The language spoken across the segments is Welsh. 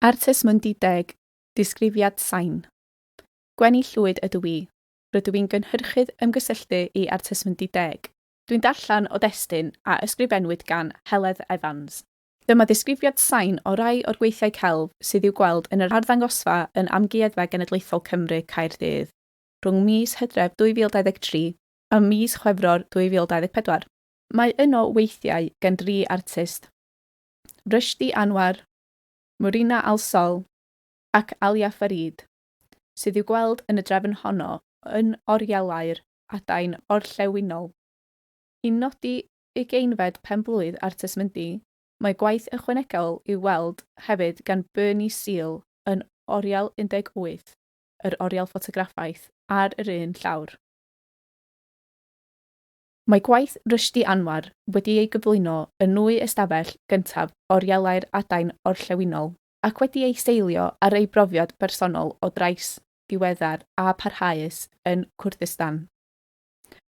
Artist Mwndideg, Disgrifiad Sain. Gwenny Llwyd ydw i. Rydw i'n gynhyrchydd ymgysylltu i Artist Mwndideg. Dwi'n darllen o destun a ysgrifennwyd gan Heledd Evans. Dyma ddisgrifiad sain o rai o'r gweithiau celf sydd i'w gweld yn yr arddangosfa yn Amgueddfa Genedlaethol Cymru, Caerdydd, rhwng mis Hydref 2023 a mis Chwefror 2024. Mae yno weithiau gan dri artist. Rushdi Anwar, Murina Al Sohl ac Alia Farid, sydd i'w gweld yn y drefn honno yn orielau'r adain orllewinol. I nodi ugeinfed penblwydd Artes Mundi, mae gwaith ychwanegol i'w weld hefyd gan Bernie Seal yn Oriel 18, yr oriel ffotograffaeth ar yr un llawr. Mae gwaith Rushdi Anwar wedi ei gyflwyno yn nwy ystafell gyntaf Orielau'r Adain Orllewinol, ac wedi ei seilio ar ei brofiad bersonol o drais diweddar a pharhaus yn Kurdistan.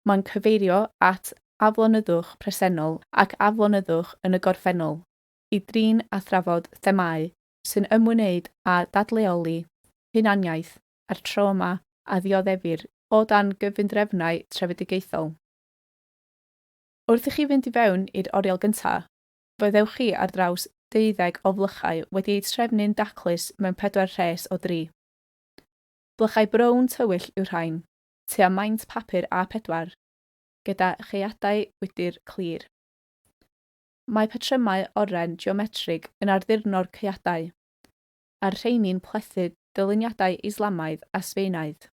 Mae'n cyfeirio at aflonyddwch presennol ac aflonyddwch yn y gorffennol i drin a thrafod themâu sy'n ymwneud â dadleoli hunaniaeth a'r tro yma a ddioddefir o dan gyfundrefnau trefedigaethol. Wrth i chi fynd i fewn i'r oriel gyntaf, fe ddewch chi ar draws deuddeg o flychau wedi eu trefnu'n daclus mewn pedwar rhes o dri. Blychau brown tywyll yw'r rhain, tua maint papur A4, gyda chaeadau gwydr clir. Mae patrymau oren geometrig yn arddurno'r caeadau, a'r rheiny'n plethu dyluniadau Islamaidd a Sbaenaidd.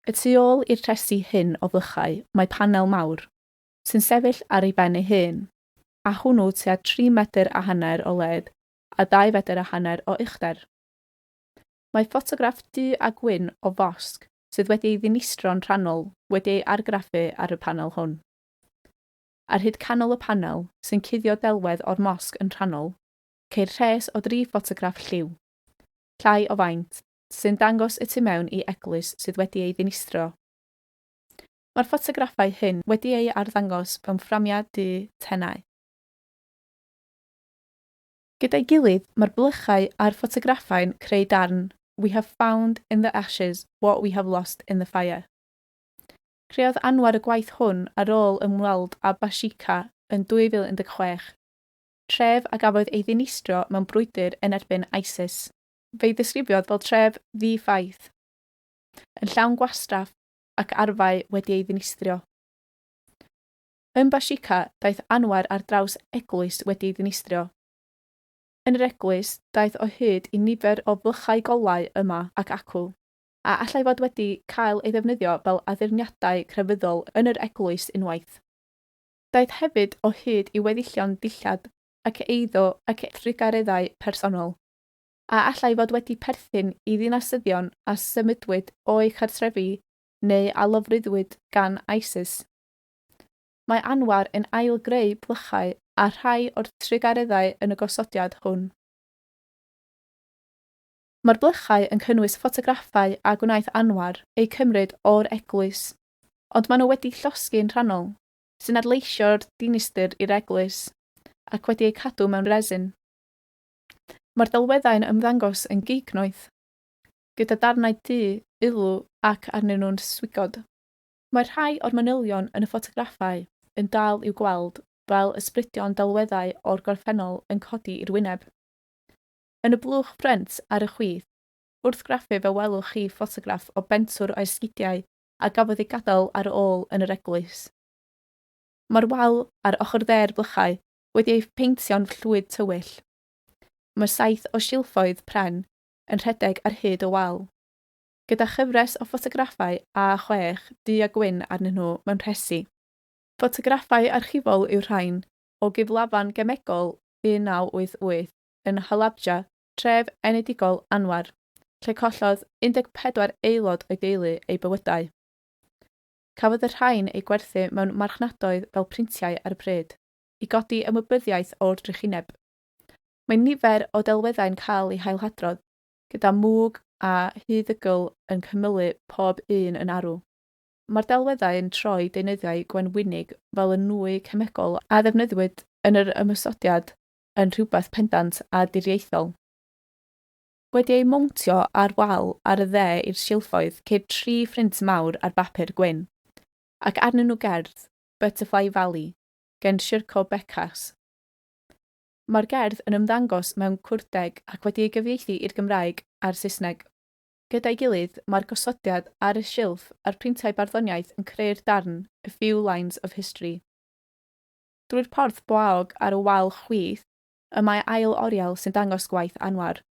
Y tu ôl i'r tresu hyn o flychau mae panel mawr, sy'n sefyll ar ei ben ei hun, a hwnnw tua tri medr a hanner o led a dau fedr a hanner o uchder. Mae ffotograff du a gwyn o fosg sydd wedi ei ddinistron rhannol wedi ei argraffu ar y panel hwn. Ar hyd canol y panel, sy'n cuddio delwedd o'r mosg yn rhannol, ceir rhes o dri ffotograff lliw, llai o faint, sy'n dangos y tu mewn i eglwys sydd wedi ei ddinistrio. Mae'r ffotograffau hyn wedi eu arddangos mewn fframiau du tenau. Gyda'i gilydd, mae'r blychau a'r ffotograffau'n creu darn We have found in the ashes what we have lost in the fire. Creodd Anwar y gwaith hwn ar ôl ymweld â Bashika yn 2016. tref a gafodd ei ddinistrio mewn brwydr yn erbyn ISIS. Fe'i ddisgrifiodd fel tref ddi-ffaith, yn llawn gwastraff ac arfau wedi ei ddinistrio. Ym Bashika, daeth Anwar ar draws eglwys wedi ei ddinistrio. Yn yr eglwys, daeth o hyd i nifer o flychau golau yma ac acw, a allai fod wedi cael ei ddefnyddio fel addurniadau crefyddol yn yr eglwys unwaith. Daeth hefyd o hyd i weddillion dillad ac eiddo ac drugareddau personol, a allai fod wedi perthyn i ddinasyddion a symudwyd o'u cartrefi neu a lofruddwyd gan ISIS. Mae Anwar yn ail-greu plychau a rhai o'r trugareddau yn y gosodiad hwn. Mae'r blychau yn cynnwys ffotograffau a gwnaeth Anwar eu cymryd o'r eglwys Ond maen nhw wedi llosgi yn rhannol, sy'n adleisio'r dinistr i'r eglwys, ac wedi eu cadw mewn resin. Mae'r delweddau'n ymddangos yn gignoeth, gyda darnau du, ulw ac arnyn nhw'n swigod. Mae rhai o'r manylion yn y ffotograffau yn dal i'w gweld fel ysbrydion delweddau o'r gorffennol yn codi i'r wyneb. Yn y blwch frent ar y chwith, wrth graffu fe welwch chi ffotograff o bentwr o esgidiau a gafodd ei gadael ar ôl yn yr eglwys. Mae'r wal ar ochr dde'r blychau wedi ei pheintio'n fllwyd tywyll. Mae saith o silffoedd pren yn rhedeg ar hyd y wal, gyda chyfres o ffotograffau â chwech du a gwyn arnyn nhw mewn rhesi. Ffotograffau archifol yw'r rhain o gyflafan gemegol 1988 yn Halabja tref enedigol Anwar, lle collodd 14 aelod o'i deulu eu bywydau. Cafodd y rhain eu gwerthu mewn marchnadoedd fel printiau ar y pryd, i godi ymwybyddiaeth o'r drychineb. Mae nifer o delweddau'n cael eu hailhadrodd, gyda mwg a huddygl yn cymylu pob un yn arw. Mae'r delweddau yn troi deunyddiau gwenwynig fel y nwy cemegol a ddefnyddiwyd yn yr ymosodiad yn rhywbeth pendant a diriaethol. Wedi ei mowntio ar wal ar y dde i'r silffoedd ceir tri phrint mawr ar bapur gwyn, ac arnyn nhw gerdd, Butterfly Valley, gan Sirco Bekas. Mae'r gerdd yn ymddangos mewn Cwrdeg ac wedi ei gyfieithu i'r Gymraeg a'r Saesneg. Gyda'i gilydd, mae'r gosodiad ar y silff a'r printau barddoniaeth yn creu'r darn A Few Lines of History. drwy'r porth boaog ar y wal chwith, y mae ail oriel sy'n dangos gwaith Anwar.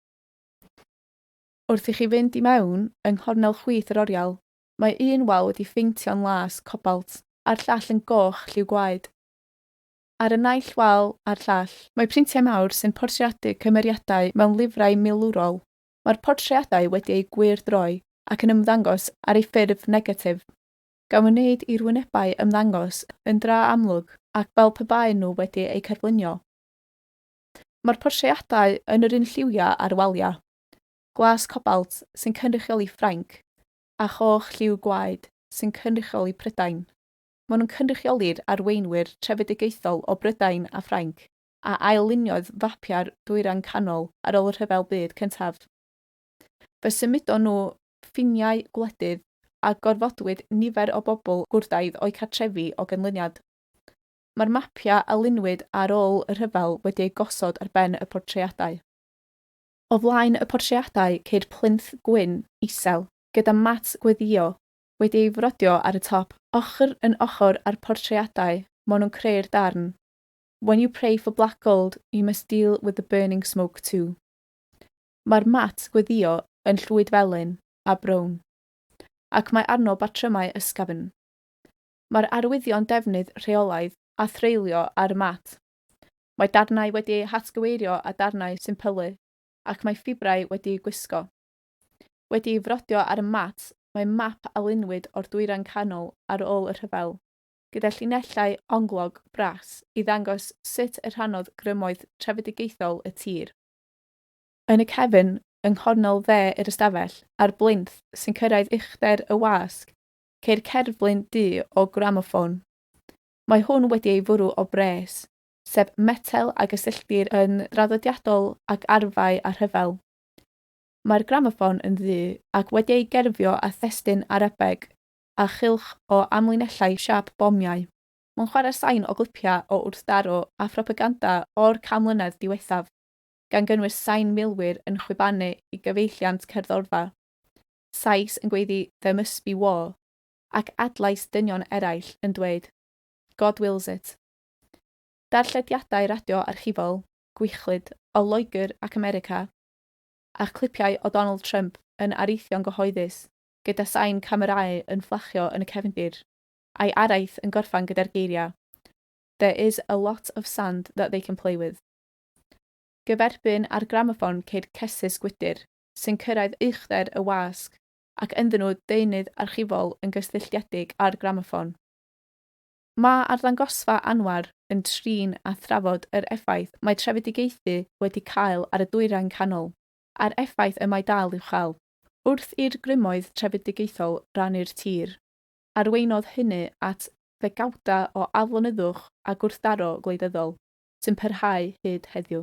Wrth i chi fynd i mewn, yng nghornel chwith yr oriel, mae un wal wedi pheintio'n las, cobalt, a'r llall yn goch, lliw gwaed. Ar y naill wal a'r llall. Mae printiau mawr sy'n portreadu cymeriadau mewn lifrai milwrol. Mae'r portreadau wedi eu gwyrdroi ac yn ymddangos ar ei ffurf negatif. gan wneud i'r wynebau ymddangos yn dra amlwg ac fel pe baen nhw wedi eu cerflunio. Mae'r portreadau yn yr un lliwiau â'r waliau, glas cobalt sy'n cynrychioli Ffrainc a choch lliw gwaed sy'n cynrychioli Prydain. Maen nhw'n cynrychioli'r arweinwyr trefedigaethol o Brydain a Ffrainc a ail-luniodd fapiau'r Dwyrain Canol ar ôl y Rhyfel Byd Cyntaf. Fe symudon nhw ffiniau gwledydd a gorfodwyd nifer o bobl gwrthaidd o'u cartrefi o ganlyniad. Mae'r mapiau a lunwyd ar ôl y rhyfel wedi eu gosod ar ben y portreadau. O flaen y portreadau ceir plinth gwyn isel gyda mat gweddïo wedi ei frodio ar y top. Ochr yn ochr â'r portreadau maen nhw'n creu'r darn When you pray for black gold, you must deal with the burning smoke too. Mae'r mat gweddïo yn llwyd felyn a brown, ac mae arno batrymau ysgafn. Mae'r arwyddion defnydd rheolaidd a threulio ar y mat. Mae darnau wedi eu hatgyweirio â darnau sy'n pylu, ac mae ffibrau wedi'u gwisgo. Wedi'i frodio ar y mat mae map a lunwyd o'r Dwyrain Canol ar ôl y rhyfel, gyda llinellau onglog bras i ddangos sut y rhannodd grymoedd trefedigaethol y tir. Yn y cefn, yng nghornel dde yr ystafell, a'r blinth sy'n cyrraedd uchder y wasg, ceir cerflun du o gramoffon. Mae hwn wedi ei fwrw o bres, sef metel a gysylltir yn draddodiadol ag arfau a rhyfel. Mae'r gramoffon yn ddu ac wedi ei gerfio â thestun Arabeg a chylch o amlinellau siâp bomiau. Mae'n chwarae sain o glipiau o wrthdaro a phropaganda o'r can mlynedd diwethaf. gan gynnwys sain milwyr yn chwibanu i gyfeilliant cerddorfa, sais yn gweiddi 'There must be war', ac adlais dynion eraill yn dweud 'God wills it'. Darllediadau radio archifol, gwychlyd, o Loegr ac America, a chlipiau o Donald Trump yn areithio'n gyhoeddus gyda sain camerâu yn fflachio yn y cefndir, a'i araith yn gorffen gyda'r geiriau 'There is a lot of sand that they can play with'. Gyferbyn â'r gramoffon ceid cesus gwydr, sy'n cyrraedd uchder y wasg, ac ynddyn nhw deunydd archifol yn gysylltiedig â'r gramoffon. Mae arddangosfa Anwar yn trin a thrafod yr effaith mae trefedigaethu wedi cael ar y Dwyrain Canol, a'r effaith y mae dal i'w chael, wrth i'r grymoedd trefedigaethol rannu'r tir. Arweinodd hynny at ddegawdau o aflonyddwch a gwrthdaro gwleidyddol sy'n parhau hyd heddiw.